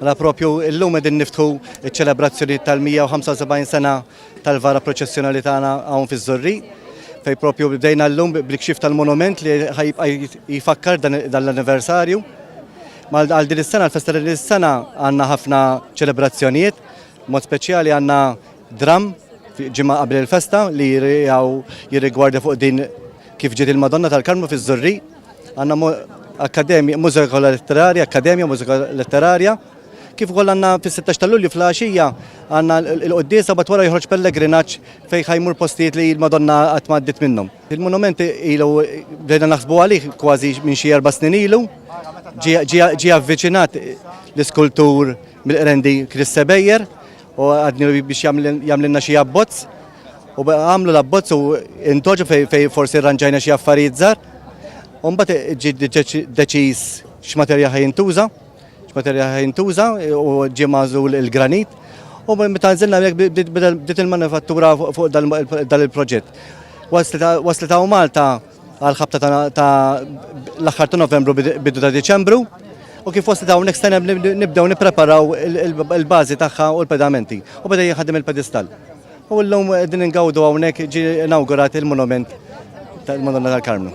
Mela propju illum qegħdin niftħu ċ-ċelebrazzjonijiet tal-175 sena tal-vara proċessjonali tagħna hawn fiż-Żurri fej propju bdejna llum bil-kxif tal-monument li ħajibqa' jfakkar dan l-anniversarju. Għal din is-sena, l-festa din is-sena għandna ħafna ċelebrazzjonijiet, mod speċjali għandna dram ġimgħa qabel il-festa li jirrigwarda fuq din kif ġiet il-Madonna tal-Karmnu fiż-Żurri. Għandna Akkademja Mużika Letterarja, Akkademja Mużika Letterarja, kif ukoll għandna fis-16 ta' Lulju fl-għaxija għandna l-quddiesa bat wara joħroġ pellegrinaġġ fejn ħajmur postijiet li l-Madonna qatt ma għaddiet minnhom. Il-monument ilu bdejna naħsbu għalih kważi minn xi erba' snin ilu, ġie avviċinat l-iskultur Mill-Qrendi Chris Sebejjer u għadni biex jagħmlilna xi abbozz u għamlu l-abbozz u intoġu fej forsi rranġajna xi affarijiet żgħar. U mbagħad ġi deċiż x'materja ħajintuża, x'materja ħajintuża u ġie mażul il-granit. U meta nżilna bdiet il-manifattura fuq dal-proġett. Waslet għaw Malta għal ħabta ta' l-aħħar ta' Novembru bidu ta' Diċembru u kif fost dawn next time nibdew nippreparaw il-bażi tagħha u l-pedamenti u beda jħaddim il-pedestal. U llum din ingawdu hawnhekk ġi inawgurat il-monument tal-Madonna tal-Karmnu.